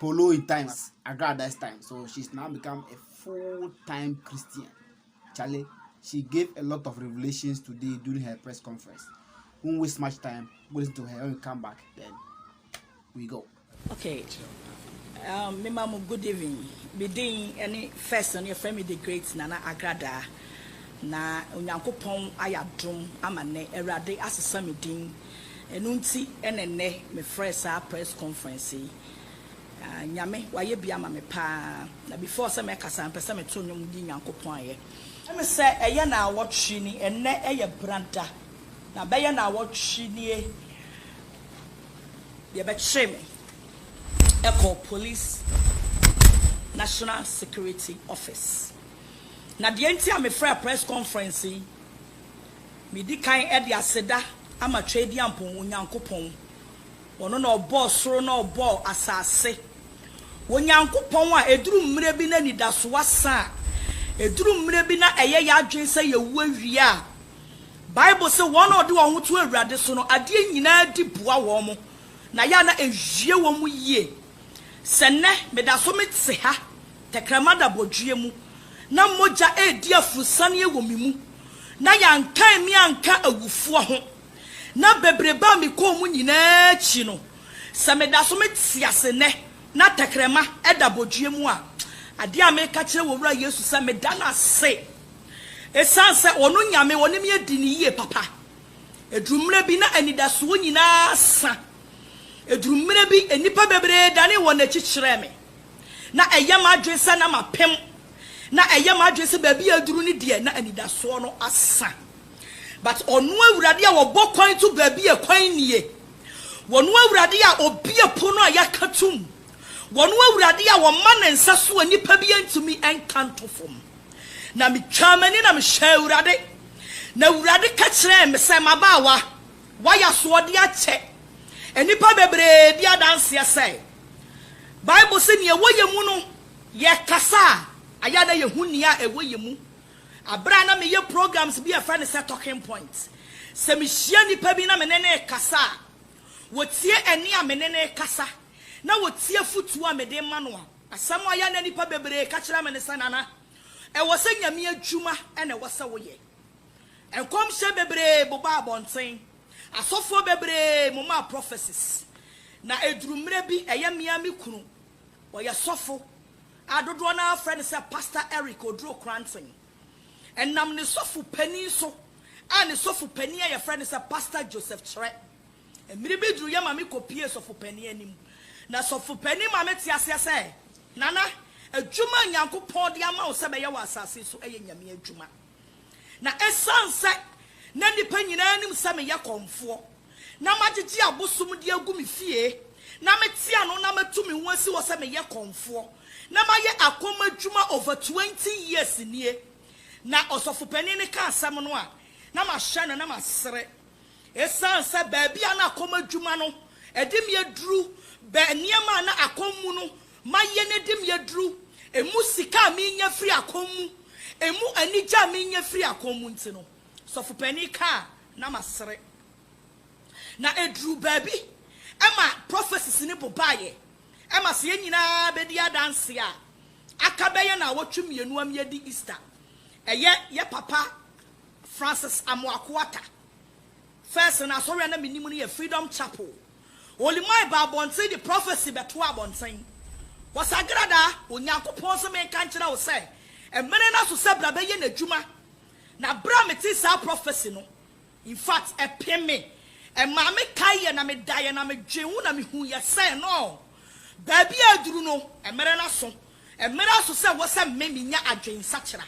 Poloi times Agradais times so she's now become a full time Christian Charlie she gave a lot of revelations today during her press conference won't waste much time go listen to her when we come back then we go. okay um, me mamu good evening me din any first on your family the great nana agrada na onyankopɔn ayɛ adom ama nnɛ awurade asesa me din Ɛno nti na nnɛ mefrɛɛ saa press conference yi. Ah, Nyame, wayɛ bi ama me paa. Na before sɛ mɛkasa, mpɛ sɛ meto nnwom di Nyankopɔn ayɛ. Ɛyɛ me sɛ ɛyɛ naawɔtwe ni, ɛnnɛ yɛ Brada, na bɛyɛ naawɔtwe nie deɛ bɛkyeree me kɔɔ Police National Security Office. Na deɛ nti a mefrɛɛ press conference yi, Medi kan de aseda ama Tweaduampɔn Onyankopɔn, ɔno na ɔbɔɔ soro na ɔbɔɔ asase. Onyankopɔn a ɛduru mmerɛ bi na anidasoɔ asa a, ɛduru mmerɛ bi na ɛyɛ yɛn adwene sɛ yɛawu awie a, Bible se wɔn a wɔde wɔn ho to Awurade so no, adeɛ nyinaa di boa wɔn, na ɛyɛ a na ɛwie wɔn yie. Sɛ nnɛ meda so mete ha tɛkrɛma adabɔdweɛ mu na mogya redi aforosianeɛ wɔ me mu na yɛankan me anka awufoɔ ho, na bebrebe a mekɔɔ mu nyinaa akyi no, sɛ meda so mete ase nnɛ na tɛkrɛma adabɔdweɛ mu a, adeɛ a meka kyerɛ wɔ Wura Yesu sɛ meda no ase ɛsiane sɛ Ɔno Nyame Ɔne me adi no yie papa. Ɛduru mmerɛ bi na anidasoɔ nyinaa sa. Eduru mmere bi, nnipa bebree danee wɔn akyi kyerɛɛ me. Ná ɛyɛ m'adwene sɛ na mapem. Ná ɛyɛ m'adwene sɛ baabi a aduru no deɛ, na anidasoɔ no asa. But Ɔno Awurade a Ɔbɔ kwan to baabi a kwan nnie, Ɔno Awurade a Ɔbue pono a yɛaka tom, Ɔno Awurade a Ɔma Ne nsa so a nnipa bi antumi nka nto fam. Na metwaa m'ani na mehwɛɛ Awurade, na Awurade ka kyerɛɛ me sɛ, M'abaawa, Wɔayɛ asoɔden akyɛ nnipa bebree di adanseɛ sɛ Bible se nea ɛwɔ yɛn mu no, yɛkasa a, ɛyɛ a na yɛhu nea ɛwɔ yɛn mu. Berɛ a na meyɛ programs bi a yɛfrɛ no sɛ Talking Point, sɛ mehyia nnipa bi na me ne no rekasa a, wɔtie ɛnne a me ne no rekasa, na wɔtie afotuo a mede rema no a, asɛm a ɛyɛ a na nnipa bebree ka kyerɛ me ne sɛ, Nana, ɛwɔ sɛ Nyame adwuma na ɛwɔ sɛ woyɛ. Nkɔmhyɛ bebree bobaa abɔnten, asɔfoɔ bebree momaa prophecies, na ɛduru mmerɛ bi ɛyɛ me ara me kunu, ɔyɛ sɔfo a dodoɔ no ara frɛ no sɛ Pastor Eric Oduro Kranten. Ɛnam ne sɔfo panin so a ne sɔfo panin a yɛfrɛ no sɛ Pastor Joseph Kyerɛ. Mmerɛ bi duru yɛ maame kɔpuee sɔfo panin anim, na sɔfo panin maa mete aseɛ sɛ, Nana, adwuma a Nyankopɔn de ama wo sɛ bɛyɛ wɔ asase so yɛ Nyame adwuma. Na esiane sɛ na nnipa nyinaa nim sɛ meyɛ kɔmfoɔ, na magyegye abosom de agu me fie, na mete ano na matu me ho asi hɔ sɛ meyɛ kɔmfoɔ, na mayɛ akɔm adwuma over twenty years nie, na ɔsɔfopanin no ka asɛm no a, na mahwɛ no na masere. Esiane sɛ baabi a na akɔm adwuma no de me aduru bɛn nneɛma a na akɔm mu no Ma yɛn adim yɛ duru. Emu sika a menya firi akɔm mu, emu anigye a menya firi akɔm mu nti no, sɔfo panin kaa na masere. Na ɛduruu baabi ɛma prophecies no bobaeɛ, ɛma sɛ yɛn nyinaa bɛdi adanseɛ a, aka bɛyɛ nnawɔtwe mmienu ama yɛadi Easter. Ɛyɛ yɛ papa Francis Amoako Atta First no asɔre a na menim no yɛ Freedom Chapel. Olimai baa abɔnten de prophecy bɛtoaa abɔnten. Wɔsagradaa, Onyankopɔn se menka nkyerɛ wo sɛ mmere no aso sɛ bra bɛyɛ n'adwuma. Na bere a metee saa prophecy no, in fact ɛpem me. Ɛmaa me kaeɛ na medaeɛ na medwee ho na mehuiɛ sɛ no, baabi a aduru no, mmere no aso. Ɛmmra so sɛ wɔ sɛ me menya adwensakyera,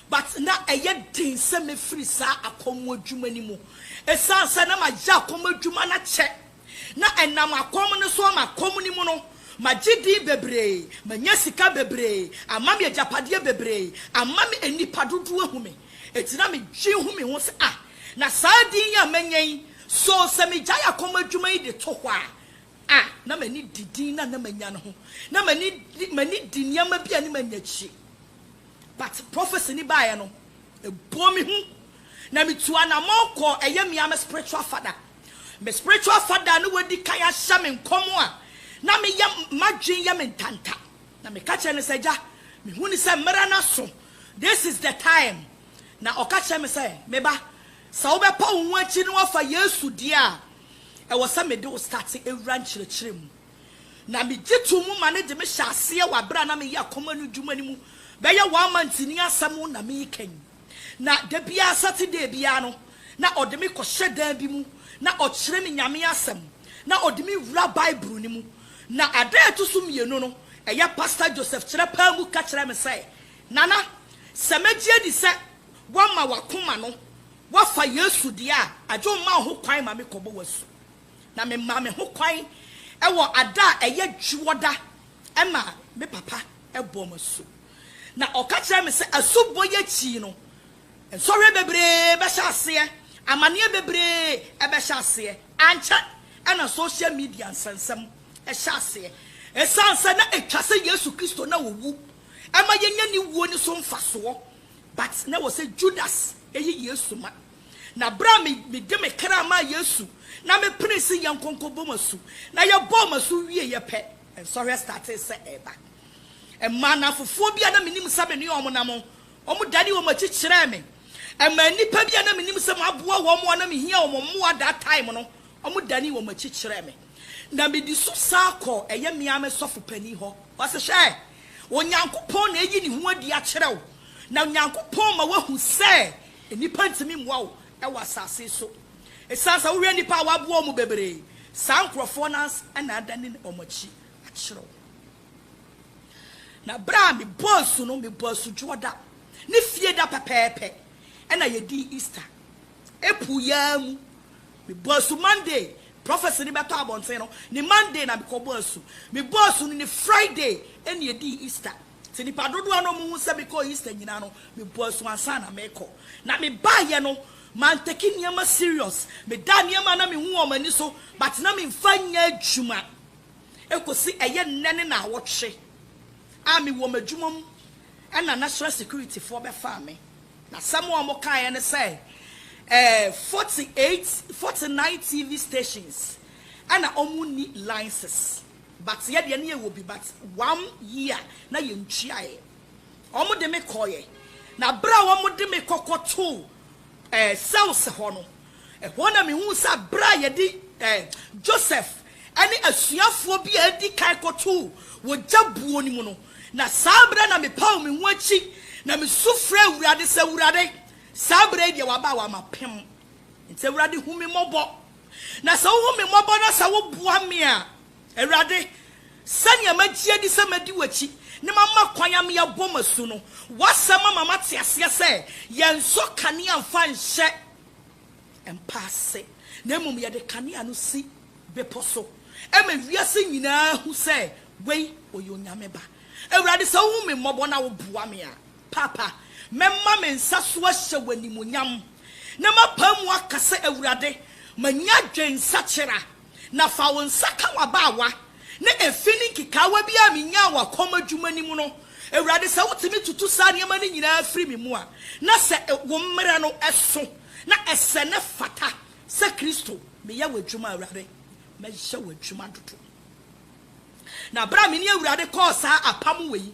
but na ɛyɛ den sɛ mɛfiri saa akɔm adwuma no mu. Ɛsiane sɛ na mayɛ akɔm adwuma no akyɛ, na ɛnam akɔm no so ama akɔm no mu no, magye din bebree, manya sika bebree, ama me agyapadeɛ bebree, ama me nnipa dodoɔ ahu me. Enti na medwen hu me ho sɛ ah, na saa din yi a manya yi, so sɛ megyae akɔm adwuma yi de to hɔ a, a na m'ani di din no a na manya no ho. Na m'ani di m'ani di nneɛma bi a ne manya akyire. But prophecy no baeɛ no, ɛbɔɔ me hu. Na metuu anamɔn kɔɔ ɛyɛ me ara me spiritual father. Me spiritual father a na wadi kan ahyɛ me nkɔm a na meyɛ m'adwene yɛ me ntanta. Na meka kyerɛɛ no sɛ, Agya, mehu no sɛ mmerɛ no aso, this is the time. Na ɔka kyerɛɛ me sɛ, Me ba, Sɛ wobɛpa wo ho akyi na woafa Yesu deɛ a, ɛwɔ sɛ mede wo state wura nkyerɛkyerɛ mu. Na megye to mu ma no de me hyɛ aseɛ wɔ aberɛ a na meyɛ akɔm anudwuma no mu bɛyɛ one month ni asɛm na mereka yi. Na da biara Saturday biara no na ɔde me kɔhyɛ dan bi mu na ɔkyerɛ me Nyame asɛm na ɔde me wura Bible no mu. Na ada a ɛto so mmienu no ɛyɛ Pastor Joseph Kyerɛpɛɛ mu ka kyerɛɛ me sɛ, Nana, sɛ mɛgye adi sɛ Woama w'akoma no, woafa Yesu deɛ a, agye wo mma wo ho kwan ma me kɔbɔ w'asu. Na me maa me ho kwan wɔ ada a ɛyɛ dwoɔda ma me papa bɔɔ me asu. Na ɔka kyerɛɛ me sɛ asubɔ yi akyi no, nsɔhwɛ bebree bɛhyɛ aseɛ, amaneɛ bebree bɛhyɛ aseɛ. Ankyɛ na social media nsɛnsɛm hyɛ aseɛ. Ɛsiane sɛ na ɛtwa sɛ Yesu Kristo na ɔwu ma yɛnya ne wuo no so mfasoɔ But na ɛwɔ sɛ Judas yi Yesu ma. Na berɛ a me, mede me kra maa Yesu, na mepenee se yɛnkɔ nkɔbɔ mo asu, na yɛbɔɔ mo asu wieeɛ pɛ, nsɔhwɛ startee sɛ ɛreba. Ɛmaa nnamfofoɔ bi a na menim sɛ me ne wɔn nam no, wɔdanee wɔn akyi kyerɛɛ me. Ɛmaa nnipa bi a na menim sɛ maboa wɔn a na mehia wɔn mmoa that time no, wɔdanee wɔn akyi kyerɛɛ me. Na medi so san kɔɔ ɛyɛ me ara me sɔfo panin hɔ. Ɔse, Hwɛ! Onyankopɔn na ayi ne ho adi akyerɛ wo, na Onyankopɔn ma woahu sɛ nnipa ntumi mmoa wo wɔ asase so. Esiane sɛ wohwɛ nnipa a wɔaboa wɔn bebree, saa nkurɔfoɔ no ara na adane wɔn akyi akyerɛ wo. Na berɛ a mebɔɔ asu no, mebɔɔ asu Dwoɔda ne Fieda pɛpɛɛpɛ na yɛdii Easter. April yi ara mu Mebɔɔ asu Monday, prophecy no bɛtɔ abɔnten no, ne Monday na mekɔbɔɔ asu. Mebɔɔ asu no ne Friday na yɛdii Easter. Sɛ nnipa dodoɔ a na wɔhu sɛ mekɔɔ Easter nyinaa no, mebɔɔ asu ansa na merekɔ. Na mebaeɛ no, mantake nneɛma serious. Medaa nneɛma a na mehu wɔ m'ani so but na memfa nyɛ adwuma kɔsi ɛyɛ nnɛ ne nnawɔtwe a mewɔ m'adwuma mu na national securityfoɔ bɛfaa me. Asɛm a wɔkaeɛ ne sɛ, ɛɛ, forty eight, forty nine TV stations na wɔnni license, but yɛ deɛ na yɛwɔ bi, but one year na yɛntuaeɛ. Wɔde me kɔeɛ, na berɛ a wɔde me kɔkɔtoo, ɛɛ, cells hɔ no, Ɛhɔ na mihuu sɛ bere a yɛde Joseph ne asuafoɔ bi a adi kan kɔtoo wɔ gya buo no mu no, na saa bere na mepaw me ho akyi na misu frɛɛ Awurade sɛ, Awurade, saa bere yi deɛ waba a wama pem. Enti Awurade hu me mmɔbɔ. Na sɛ wohu me mmɔbɔ na sɛ woboa me a, Awurade, sɛnea magye adi sɛ mɛdi w'akyi na mama kwan ama yɛabɔ m'asu no, w'asɛm ama mate aseɛ sɛ yɛnsɔ kanea mfa nhyɛ mpa ase, na mmom yɛde kanea no si bepɔ so ma wiase nyinaa hu sɛ wei, ɔyɛ Onyame Ba. Awurade, sɛ wohu me mmɔbɔ na woboa me a, Paapa, mɛma me nsa so ahyɛ wo animuonyam, na mapae mu aka sɛ, Awurade, manya adwensakyera Na fa wo nsa ka w'abaawa na efi ne nkekaawa bi a minyaa wɔ kɔm adwuma no mu no, Awurade, sɛ wotumi tutu saa nneɛma no nyinaa firi me mu a, na sɛ wo mmara no so na ɛsɛ na ɛfata sɛ Kristo, meyɛ w'adwuma, Awurade, mɛyɛ w'adwuma dodo. Na bere a me ne Awurade kɔɔ saa apam wɔ yi,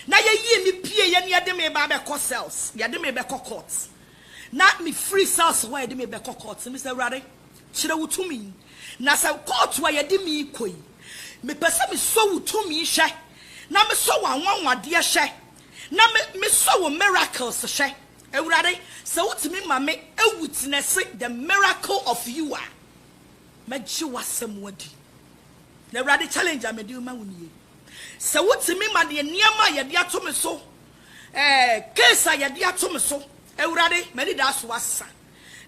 na yɛyii me pieeɛ na yɛde me ba bɛkɔ cells, yɛde me bɛkɔ court, na mefiri cells hɔ a yɛde me bɛkɔ court, mese, Awurade, Kyerɛ wo tumi. Na sɛ kɔɔto a yɛde me rekɔ yi, mepɛ sɛ mesɔ wo tumi hwɛ, na mesɔ w'anwanwadeɛ hwɛ, na me, mesɔ wo miracles hwɛ. Awurade, sɛ wotumi ma me awitnɛse the miracle of you a, mɛgye w'asɛm adi. Na Awurade, challenge a mede rema wo nie. Sɛ wotumi ma deɛ nneɛma a yɛde ato me so, ɛɛ, case a yɛde ato me so, Awurade, m'anidaso asa.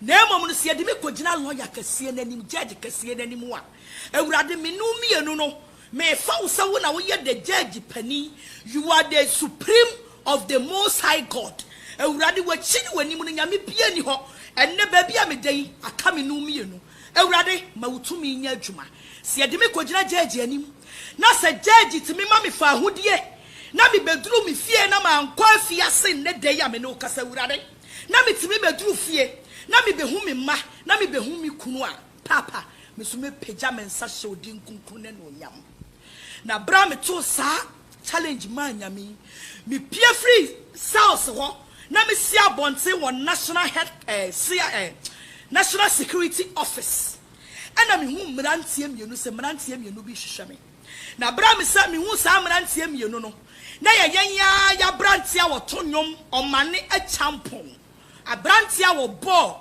Na mmom no, sɛ yɛde me kɔgyina lɔya kɛseɛ no anim, gyɛɛgye kɛseɛ no anim a, Awurade, me ne wo mmienu no, mefa wo sɛ wo na woyɛ the gyɛɛgye panin, you are the supreme of the Most High God. Awurade, w'akyi ne w'anim no, nyame biara nni hɔ. Ɛnnɛ, baabi a meda yi, aka me ne wo mmienu. Awurade, ma wo tumi nyɛ adwuma. Sɛ yɛde me kɔgyina gyɛɛgye anim, na sɛ gyɛɛgye tumi ma me fawohodie, na mebɛduru me fie na mankɔ afiase nnɛ da yi a me ne wo kasa, Awurade, na metumi bɛduru fie na mebɛhu me mma na mebɛhu me kunu a, Paapa, me nso mɛpagya me nsa hyɛ wo din kronkron no anuonyam. Na berɛ a metoo saa challenge maa Nyame yi, mepue firii cells hɔ na mesi abɔnten wɔ National Head, eh, cia, eh, National Security Office. Ɛna mehuu mmeranteɛ mmienu sɛ mmeranteɛ mmienu bi rehwehwɛ me. Na bere a mesan mihuu saa mmeranteɛ mmienu no, na ɛyɛ yɛn ara yɛn aberanteɛ a wɔto nnwom, ɔmane akyampɔn, aberanteɛ a wɔbɔɔ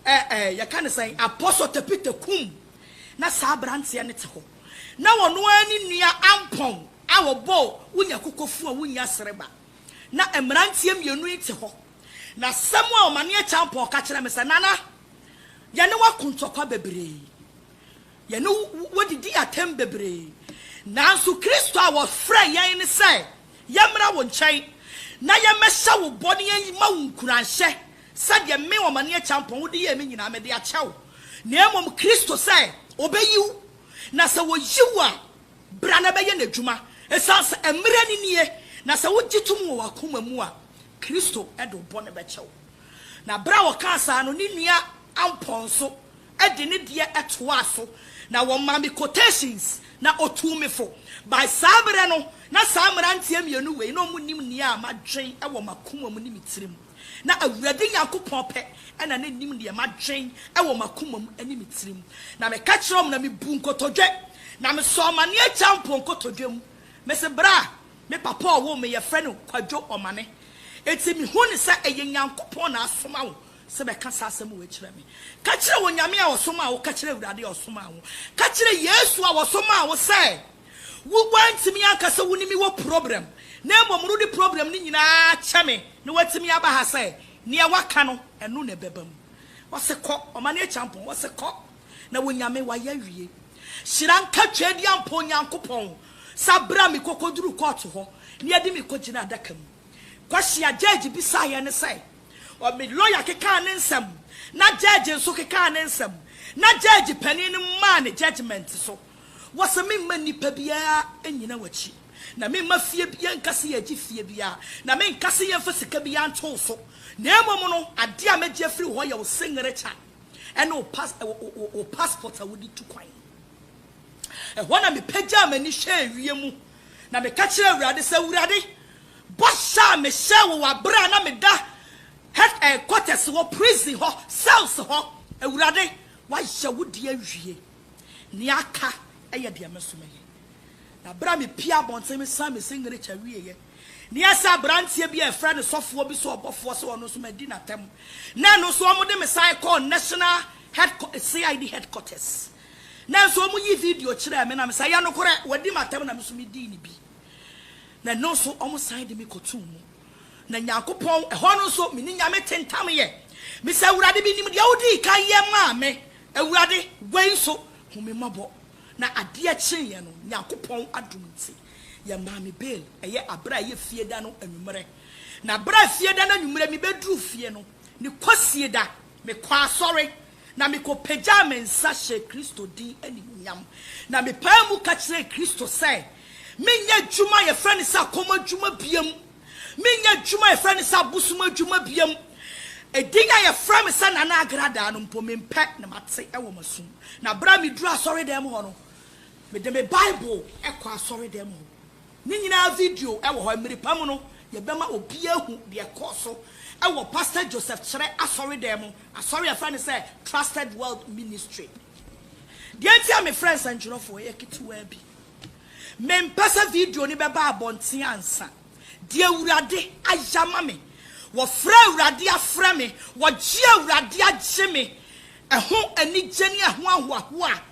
ɛ ɛ yɛka no sɛn, Apostle Tepite Kum. Na saa aberanteɛ no te hɔ. Na ɔno ara ne nua Ampɔn a wɔbɔɔ Wonya Kokofu a Wonnya Sereba. Na mmeranteɛ mmienu yi te hɔ. Na asɛm a ɔmane akyampɔn ka kyerɛɛ me sɛ, Nana, yɛne wo ako ntɔkwa bebree. Yɛne wo didii atɛm bebree. Nanso Kristo a wɔfrɛɛ yɛn ne sɛ yɛmmra wo nkyɛn na yɛmmɛhyɛ wo bɔ ne yɛmma wo nkuranhyɛ sɛdeɛ me, Omanneɛ Kyampɔn, wode yɛɛ me nyinaa mede akyɛ wo, na mmom Kristo sɛ ɔbɛyi wo, na sɛ ɔyi wo a, bra na bɛyɛ n'adwuma, ɛsiane sɛ mmerɛ no nie, na sɛ wogye tom wɔ w'akoma mu a, Kristo de wo bɔne bɛkyɛ wo. Na berɛ a ɔkaa saa no, ne nua Ampɔn nso de ne deɛ toaa so na wɔmaa me quotations na ɔtuu me fo. By saa berɛ no, na saa mmeranteɛ mmienu wei na wɔnim nea madwen wɔ m'akoma mu ne me tirim. Na Awurade Nyankopɔn pɛ na na nim deɛ madwen wɔ m'akoma mu ne me tirim. Na meka kyerɛɛ wɔn na mebuu nkotodwe, na mesɔɔ m'aneɛ Kyampo nkotodwe mu. Mese, Berɛ a me papa a ɔwoo me yɛfrɛ no Kwadwo Ɔmane. Enti mehu no sɛ ɛyɛ Nyankopɔn na asoma wo. sɛ bɛka saa asɛm wei kyerɛ me. Ka kyerɛ Onyame a ɔsomaa wo, ka kyerɛ Awurade a ɔsomaa wo, ka kyerɛ Yesu a ɔsomaa wo sɛ wo woantumi anka sɛ wo ne me wɔ problem na mmom wode problem no nyinaa kyɛ me na woatumi aba ha sɛ neɛ woaka no ɛno na ɛbɛba mu. Ɔse kɔ, ɔma no akyampɔn, ɔse kɔ na Onyame wayɛ awie. Hyira nka Tweaduampɔn Nyankopɔn sa bra me kɔkɔduru kɔɔto hɔ na yɛde me kɔgyina adaka mu. Kwasi Agyegye bisaeɛ ne sɛ, ɔ me lɔya kekaa ne nsɛm, na gyɛɛgye nso kekaa ne nsɛm, na gyɛɛgye panin no maa ne gyɛgyemɛnte so wɔ sɛ memma nnipa biara nnyina w'akyi, na memma fie biara nka sɛ yɛregye fie biara, na menka sɛ yɛmfa sika biara nto wo so, na mmom no, adeɛ a mɛgye afiri wo hɔ yɛ wo singretya ne wo pas wo wo wo passport a wode tu kwan. Ɛhɔ na mepagyaa m'ani hwɛɛ wiem Na meka kyerɛɛ Awurade sɛ, Awurade, bɔhyɛ a mehyɛɛ wo wɔ bere a na meda head eh quarters hɔ, prison hɔ, cells hɔ, Awurade, woayɛ wo deɛ awie. Nea aka yɛ deɛ me nso mɛyɛ. Na bere a mepue abɔnten mesan me signature wieeɛ, na ɛyɛ sɛ aberanteɛ bi a yɛfrɛ no sɔfoɔ bi sɛ ɔbɔfoɔ sɛ ɔno nso madi n'atɛm, na ɛno nso wɔde me san kɔɔ national head, CID headquarters. Nanso wɔyii video kyerɛɛ me na me sɛ, Ɛyɛ nokorɛ, wɔadi m'atɛm na me nso medii no bi. Na ɛno nso wɔsan de me kɔtoo mu. Na Nyankopɔn, ɛhɔ no nso me ne Nyame te ntam yɛ. Me sɛ, Awurade, menim deɛ wodii kan yɛ maa me. Awurade, wei nso, hu me mmɔbɔ. Na adeɛ kyeeɛ no, Nyankopɔn adom nti, yɛmaa me bail, ɛyɛ aberɛ a ɛyɛ fie da no anwummerɛ. Na berɛ a fie da no anwummerɛ mebɛduruu fie no, ne Kwasieda, mekɔɔ asɔre. na mikopagyaa me nsa hyɛɛ Kristo din animuonyam, na mepaa mu ka kyerɛɛ Kristo sɛ menyɛ adwuma a yɛfrɛ no sɛ akɔm adwuma biam, menyɛ adwuma a yɛfrɛ no sɛ abosom adwuma biam. Edin a yɛfrɛ me sɛ Nana Agradaa no mpo, mempɛ na mate wɔ m'asom. Na bere a miduruu asɔredan mu hɔ no, mede me Bible kɔɔ asɔredan mu hɔ. Ne nyinaa video wɔ hɔ. Mmere pa mu no, yɛbɛma obiara ahu deɛ ɛkɔɔ so wɔ Pastor Joseph Kyerɛ asɔredan mu, asɔre a yɛfrɛ no sɛ Trusted World Ministry. Deɛ nti a mefrɛ nsɛntwerɛfoɔ yɛ ketewaa bi. Mempɛ sɛ video no bɛba abɔnten ansa. Deɛ Awurade ayɛ ama me, wɔfrɛ Awurade afrɛ me, wɔgye Awurade agye me, ɛho anigye ne ɛho ahoahoa a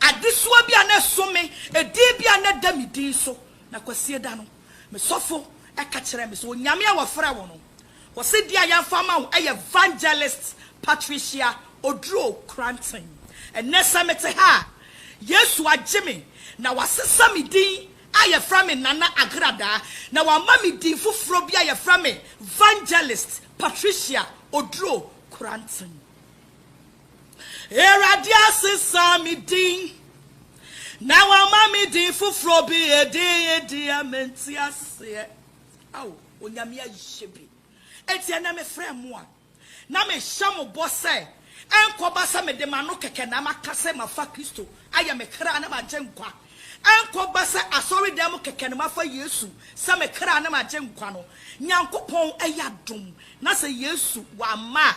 Adesoa bi a na ɛso me, edin bi a na ɛda me din so. Na Kwasieda no, me sɔfo ka kyerɛɛ me sɛ, Onyame a wɔfrɛ wo no, ɔse din a yɛamfa ama wo yɛ Vangelist Patricia Oduro Kranten. Ɛnnɛ sɛ mete ha a, Yesu agye me na wasesa me din a yɛfrɛ me Nana Agradaa na wama me din foforɔ bi a yɛfrɛ me Vangelist Patricia Oduro Kranten. Awurade asesa me din, na wama me din foforɔ bi, edin yi deɛ mente aseɛ. Ao, Onyame ayɛ bi. Enti ɛnɛ mefrɛ mo a, na mehyɛ mo bɔ sɛ, ɛnkɔba sɛ mede m'ano kɛkɛ na maka sɛ mafa Kristo ayɛ me kra ne m'agyenkwa, ɛnkɔba sɛ asɔredan mu kɛkɛ na mafa Yesu sɛ me kra ne m'agyenkwa no. Nyankopɔn ayɛ adom, na sɛ Yesu wamma a,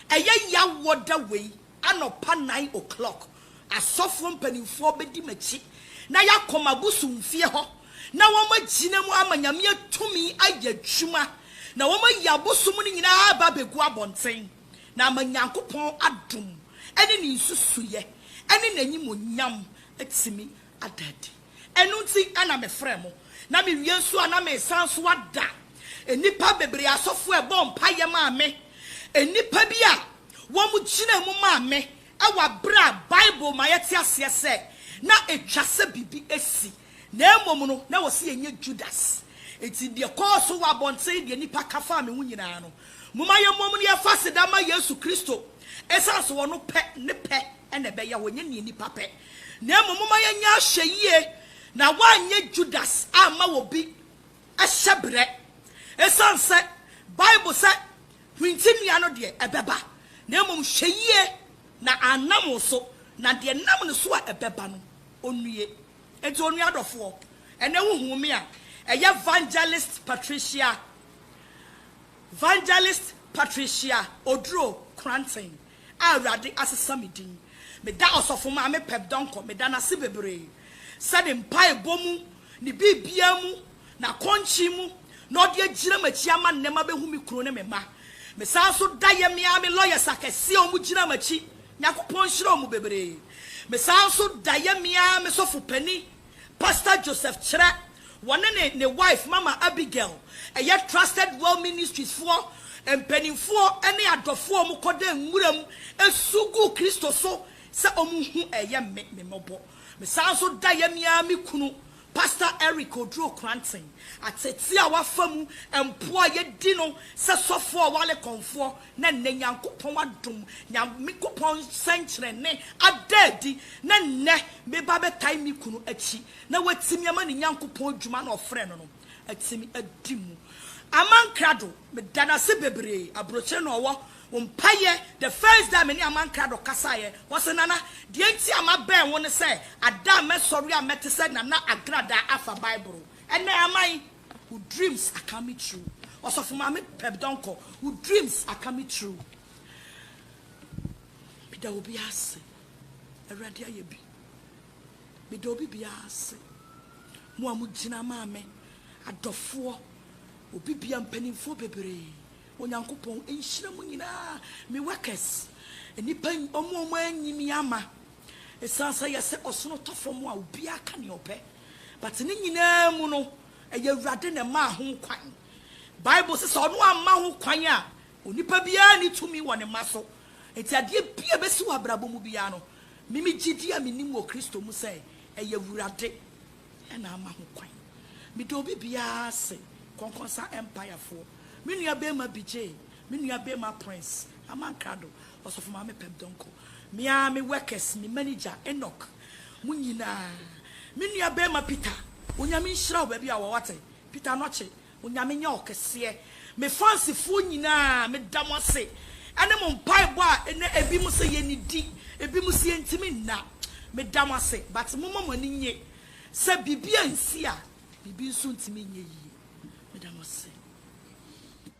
Ɛyɛ yaw wɔ da wei anɔpa nine o'clock asɔfoɔ mpaninfoɔ bɛdi m'akyi na yɛakɔ m'abosomfie hɔ na wɔn agyina mu ama Nyame atumi ayɛ adwuma na wɔn ayi abosom no nyinaa aba abɛgu abɔnten na ama Nyankopɔn adom ɛne ne nsusuiɛ ɛne n'animonyam atumi ada adi. Ɛno nti na mefrɛɛ mo, na mewie nso a na meresan nso ada nnipa bebree asɔfoɔ a ɛbɔɔ mpaeɛ maa me, nnipa bi a wɔgyinaa mu maa me wɔ berɛ a Bible ma yɛte aseɛ sɛ na ɛtwa sɛ biribi asi, na mmom no na wɔse yɛnyɛ Judas. Enti deɛ ɛkɔɔ so wɔ abɔnten ne deɛ nnipa ka faa me ho nyinaa no, momma yɛmmom na yɛmfa aseda mma Yesu Kristo, ɛsiane sɛ ɔno pɛ, ne pɛ na ɛbɛyɛ hɔ, ɛnyɛ deɛ nnipa pɛ. Na mmom momma yɛnyɛ ahwɛyie na wɔanyɛ Judas amma obi hyɛberɛ. Ɛsiane sɛ Bible sɛ hwinti nnua no deɛ ɛbɛba, na mmom hwɛ yie na annam wo so, na deɛ ɛnam ne so a ɛbɛba no ɔnnue. Enti onua adɔfoɔ, ɛnnɛ wohuu me a, ɛyɛ Vangelist Patricia, Vangelist Patricia Oduro Kranten. a Awurade asesa me din. Meda Ɔsɔfo Maame Peb Donkor meda no ase bebree sɛ ne mpaebɔ mu, ne biribiara mu, n'akɔnkyen mu na ɔde agyina m'akyi ama nnɛ mabehu me kunu ne me mma. Mesan nso da yɛ me ara me lawyers akɛse a wɔgyina m'akyi, Nyankopɔn nhyira wɔn bebree. Mesan nso da yɛ me ara me sɔfo panin, Pastor Joseph kyerɛ wɔne ne ne wife Mama Abigail ɛyɛ Trusted Well Ministries foɔ mpaninfoɔ ne adɔfoɔ a wɔkɔda nwura mu su gu Kristo so sɛ wɔn hu ɛyɛ me me mmɔbɔ me san nso da yɛ me ara me kunu Pastor Eric Oduro Kranten atete a wafa mu mpoa a yɛdi no sɛ sɔfoɔ a wale kɔnfoɔ Na nnɛ Nyankopɔn adom, Nyankopɔn nsɛnkyerɛnne ada adi, na nnɛ meba bɛtae me kunu akyi, na watumi ama ne Nyankopɔn adwuma na ɔfrɛɛ no no atumi adi mu. Aman Krado, meda no ase bebree, aburokyire na ɔwɔ, wo mpaeɛ, the first day a me ne Aman Krado kasaeɛ, ɔse, Nana, deɛ nti a mabɛn wo ne sɛ, ada a mɛsɔre a mɛte sɛ Nana Agradaa afa Bible. Ɛnnɛ Aman. Wo dreams are coming true Ɔsɔfo Maame Peb Donkor wo dreams are coming true Meda obiara ase Awurade ayɛ bi Meda obi biara ase Mo a mo gyina maa me Adɔfoɔ Obi biara mpaninfoɔ bebree Onyankopɔn nhyira mo nyinaa Me workers Nnipa wɔn a wɔanyi me ama Ɛsiane sɛ yɛsɛ ɔsono tɔ fam a obiara ka nea ɔpɛ. But ne nyinaa mu no, ɛyɛ Awurade na ɛmaa ho kwan. Bible se sɛ ɔno amma ho kwan a, onipa biara nni tumi wɔ ne mma so. Enti adeɛ biara a ɛbɛsi wɔ abrabɔ mu biara no, me me gyidie a menim wɔ Kristo mu sɛ ɛyɛ Awurade na ama ho kwan. Meda obi biara ase, Kɔnkɔnsa Empire foɔ, me nua barima Bijay, me nua barima Prince, Amankrado, Ɔsɔfo Maame Pep Donkor, me ara me workers, me manager Enoch, mo nyinaa, me nua barima Peter, Onyame nhyira wo baabi a wɔ wate, Peter Anokye, Onyame nyɛ wo kɛseɛ, me fans foɔ nyinaa, me da mo ase ɛne mo mpaebɔ a ɛnɛ ɛbi mo sɛ yɛ nidi, ɛbi mo sɛ yɛ ntimi nna, me da mo ase, but mo ma mo ani nye sɛ biribi a nsi a, biribi nso ntimi nyɛ yie, me da mo ase.